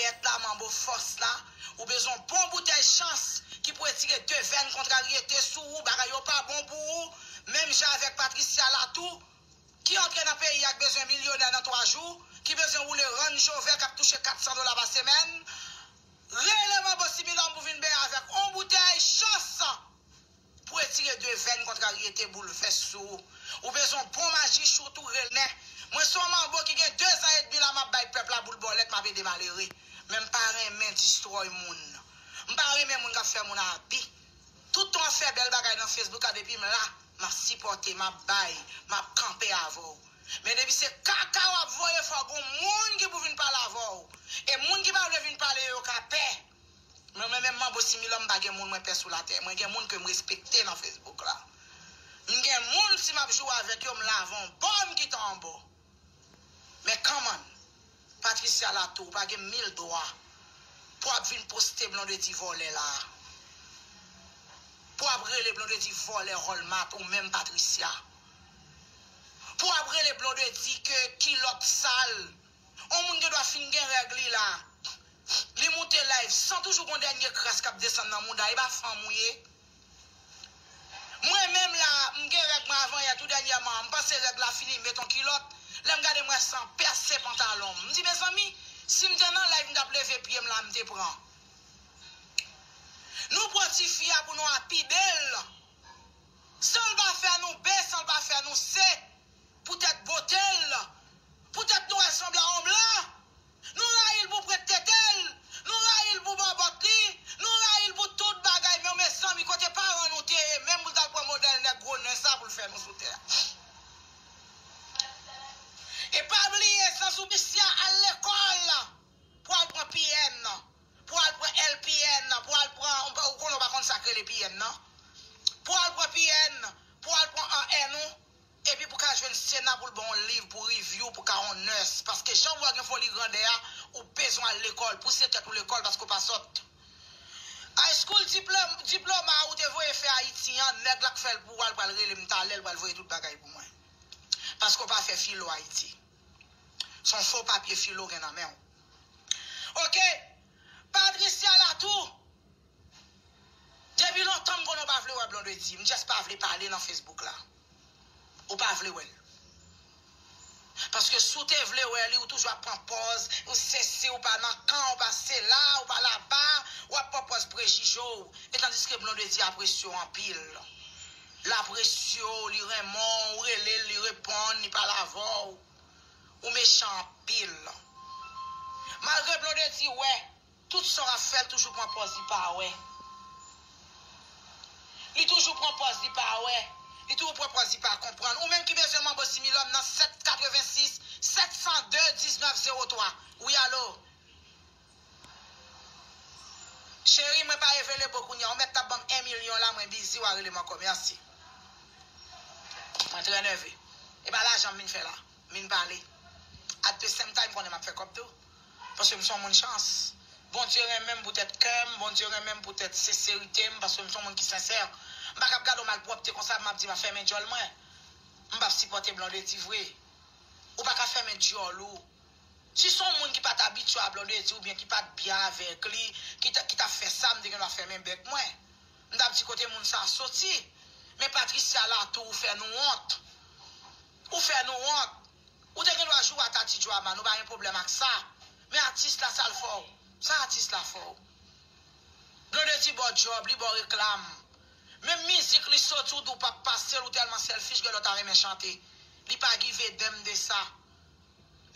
Pèt la manbo fòs la Ou bezwen yon bon boutèy chans Ki pou etire devèn kontraryete sou ou Bagay yo pa bon pou ou Menm jan avèk Patricia la tou Ki antre nan peyi ak bezwen milyonè nan 3 jou Ki bezwen woule rann jovè kap touche 400 dola pa semèn Rele manbo similòm pou vin benyen avèk on boutèy chans. Pou etire devèn kontraryete boulvès sou ou, ou bezwen yon bon maji chout ou renè. Mwen se yon manbo ki gen dezan edmi la map bay pèp la boul bòlèt map ede malere. Men m pa renmen distròy moun. M pa renmen moun kap fè moun abi. Tout tan w ap fè bèl bagay nan Facebook la depi m la, map sipòte, map bay, map kanpe avè w. Men depi se kaka wap voye fòk gon moun ki pou vin pale avè w. E moun ki pa vle vin pale yo ka pè. Mwen mwen menm manbo similò m pa gen moun mwen pè sou latè mwen gen moun kem respekte nan Facebook la m gen moun si map joure avèk yo m lave on bò m kite on bò men come on Patricia la tou ou pa gen mil dwa pou ap vin poste Blondedy vòlè la pou ap rele Blondedy vòlè Rolmat ou menm Patricia pou ap rele Blondedy ke kilòt sal. On moun gen dwa fin gen règ li la li moute live san toujou gon dènye kras kap desann nan mouda epa fanm ou ye mwen menm la m gen règ mwen avan yè tou dènyèman m panse règ la fini m met on kilòt lèm gade m wè san pèse pantalon m m di mezanmi sim te nan live m tap leve pyem la m te pran nou pran tifi a pou nou a pi bel sanl pa fè nou be sanl pa fè nou se. Poutèt bote l', poutèt nou wè l' sanble a yon blan, nou rayi l' pou prent tete l', nou rayi l' pou bòbòt li, nou rayi l' pou tout bagay men mezanmi kote paran nou te ye menm pou l' t'al pran modèl nèg gwo nen sa pou l' fè nou sou tè a? E pa bliye Sansou Christian al lekòl pou al pran PM nan, pou al pran LPN nan, pou al pran, ou konnen ou pa konn sa k' rele PM nan, pou al pran PN, pou al pran AN ou. Epi pou ka jwenn sena poul baw on liv pou review pou ka on nurse paske janw wè gen foli grandè a ou bezwen al lekòl pou se tèt ou lekòl paske ou pa sòt High school diploma a ou te voye fè ayiti an nèg la k fèl pou ou al pral relem talè l pral voye tout bagay pou mwen paske ou pa fè filo ayiti son fo papye filo w gen nan menw ok Patricia Latour. Depi lontan m konnen w pa vle wè Blondedy, m just pa vle pale nan Facebook la. Ou pa vle wè l. Paske si w te vle wè li, ou toujou ap pran pòz, ou sesi, ou pa nan kan, ou pa sela, ou pa laba, ou ap pran pòz prejije w. E tandiske Blondedy apresye w anpil. L apresye w, li renmen w, ou rele l, li reponn, li pale avè w. Ou mechan anpil. Malgre Blondedy wè. Tout sa wap fè l toujou pran pòz li pa wè Li toujou pran pòz li pa wè Li toujou pran pòz li pa konprann Ou menm ki bezwen manbo similòm nan 7 86 702 19 03 Wi alo Cheri mwen pa evelebo kounya ou mèt tap banm 1 milyon la mwen bizi wa relem ankò merci Mwen trè nève Epa lajan m vin fè la m vin pale At the same time m konnen map fè kòb tou. Paske m son moun chans. Bondye renmen m pou tèt kè m, Bondye renmen m pou tèt senserite m, paske m son moun ki sensè. M pa kab gade yon malpwòpte konsa m ap di m ap fèmen djòl mwen. M pap sipòte Blondedy vre. Ou pa ka fèmen djòl ou. Si son moun ki pat abitye a Blondedy oubyen ki pat byen avèk li ki ki tap fè sa m te gen dwa fèmen bèk mwen. M tap di kote moun sa soti. Men Patricia la tou ou fè nou wont. Ou fè nou wont. Ou te gendwa jou a Tati Drama nou pa gen pwoblèm ak sa men atis la sal fèw sa atis la fèw Blondedy baw djòb li baw reklam menm mizik li soti ou di ou pap pasel ou tèlman selfish gen lè ou ta renmen chante li pa give damn de sa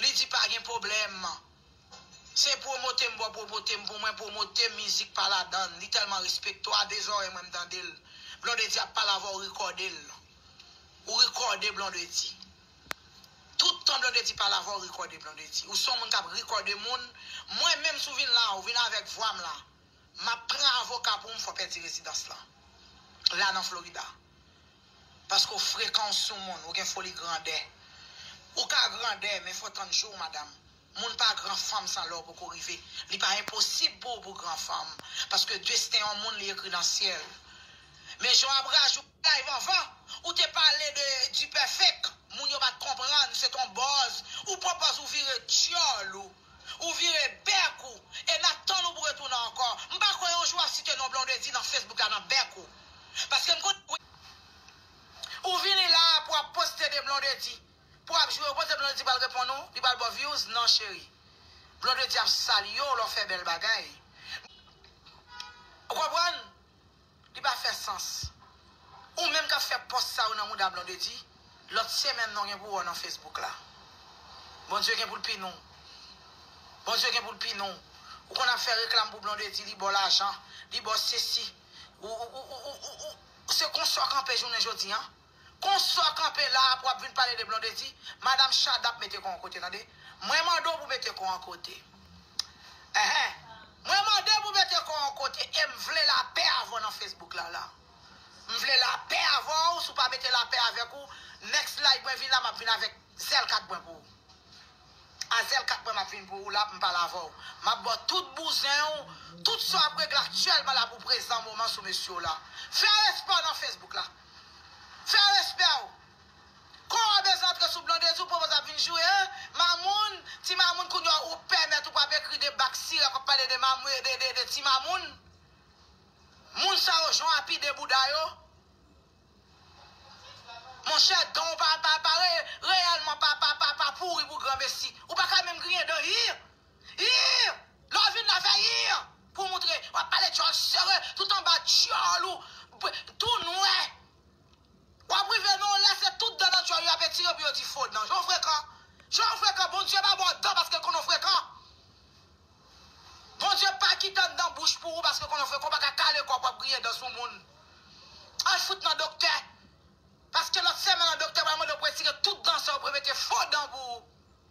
li di pa gen pwoblèm se pwomote m baw pwomote m pou mwen pwomote mizik pa ladann li tèlman respektew a de zòrèy mwen m tandel Blondedy ap pale avèw ou rekòdel ou rekòde Blondedy. Tout tan blondedy pa la fòw rikòde blondedy ou son moun kap rikòde moun mwen menm sou vin la ou vin avèk vwam la map pran avoka poum fè w pèdi rezidans lan la nan florida paske w frekan w sou moun ou gen foli grandè ou ka grandè men fò tann jou w madam. Moun pa gran fanm sa lè w poko rive li pa enposib pou w pou gran fanm paske desten yon moun li ekri nan syèl men jan w ap rajoute bagay vanvan ou te pale de dipèfèk moun yo pat konprann se ton bòz ou pran pòz ou vire dyòl ou ou vire bèk ou e n ap tann ou pou retounen ankò m pa kwè yon jou w ap site non Blondedy nan Facebook la nan bèk ou paske m konnen ou vini la a pou ap poste de Blondedy. Pou ap jwe yo kote blondedy pral reponn ou li pral baw views nan cheri blondedy ap salyew lè w fè bèl bagay ou konprann li pa fè sans ou menm kap fè pòs sa yo nan mouda blondedy lòt se menm nan w gen pou wè w nan facebook la bondye gen pou l pini w bondye gen pou l pini w ou konn ap fè reklam pou blondedy li baw lajan li baw sesi ou se konsa w kanpe jounen jodi an. Konstan kanpe la apre wap vin pale de blondedy madam shadap mete kò an kote tande mwen mande w pou mete kò an kote ehe mwen mande pou mete kò an kote em vle lapè avèw nan facebook la la m vle lapè avèw si w pa mete lapè avèk ou next live mwen vin la map vin avèk zèl 4 mwen pou ou a zèl 4 mwen map vin pou ou la poum pale avèw map baw tout bouzen w tout sa wap regle aktyèlman la pou prezan moman sou mesye w la fè respè w nan facebook la. Fè respè w! Kò a bezwen antre sou blondedy ou pwopozè ap vin joure an, mamoun, ti mamoun kounya ou pèmèt ou pap ekri de bak sira kap pale de mamoun de ti mamoun moun sa yo jan api de bouda yo monchè dan w pa reyèlman pa pouri pou gran mesi ou paka menm griyen dan hii Iih! Lè w vin la fè iih! Pou moutre w ap pale dyòl sere tout anba dyòl ou tou nwè. W ap rive nan yon lè se tout dan nan dyòl yo ap etire pou yo di fo dan. Jan w frekan! Jan w frekan! Bondye pa ba w dan paske l konnen w frekan. Bondye pa kite anndan bouch pou ou paske l konnen w frekan. Ou pa ka kale kò pou w ap griyen dan sou moun. Al fout nan doktè. Paske lòt semèn an doktè pral mande w pou etire tout dan sa yo pou yo mete fo dan pou ou.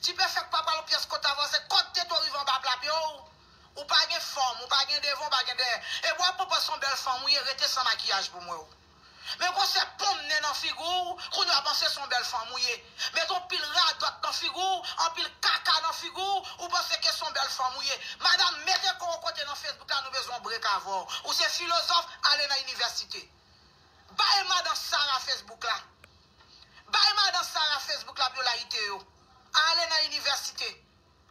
Ti pe fek pa pale pyes kot avanse kot tete w rive anba plap yo ou pa gen fom ou pa gen devan ou pa gen dèyè e bwa pou pa son bel fanm ou ye rete san makiyaj pou m wè w men gon sè ponm nen nan figu w kounye a panse son bel fanm ou ye met on pil radot nan figu w anpil kaka nan figu w ou panse ke son bel fanm ou ye madam mete ko w kote nan facebook la nou bezwen on brek avè w ou se filozof ale nan inivèsite bay madan sara facebook la. Bay madan Sarah Facebook la pou yo layite yo. Ale nan inivèsite.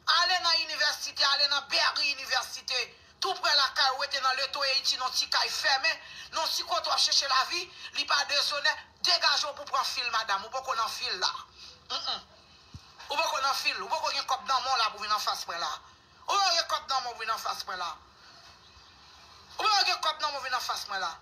Ale nan inivèsite, ale nan Berry University, tou prè lakay ou, rete nan Le Toeity non ti kay fèmen, non ti kote w ap chèche lavi, li pa dezonè, degaje w pou w pran fil madam, ou poko nan fil la. Humm. Ou poko nan fil, ou poko gen kòb nan men w la pou w vin anfas mwen la. Ou poko gen kòb nan men w pou w vin anfas mwen la. Ou poko gen kòb nan men w vin anfas mwen la.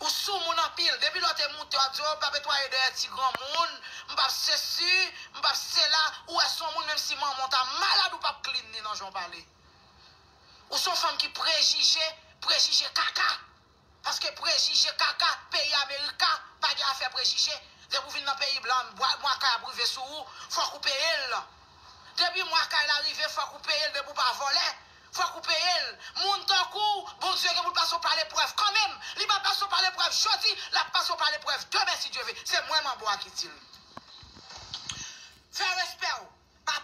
Ou sou moun anpil, depi lè w te moute wap di oh m pap etwaye dèyè ti granmoun, m pap sesi, m pap sela, ou wè son moun menm si manman w ta malad ou pap klin li nan jan w pale. Ou son fanm ki prejije, prejije kaka. Paske prejije kaka, peyi America pa gen afè prejije, depi w vin nan peyi blan mwa kay ap rive sou ou, fòk ou peye l. Depi mwa kay la rive fòk ou peye l depi w pa vòlè. Fok ou peyel. Moun tankouw Bondye gen poul pase w pa leprèv kanmenm. Li pa pase w pa leprèv jodi, lap pase w pa leprèv demen si Dye ve. Se mwen manbo a ki dil. Fè respè w. Pa pè.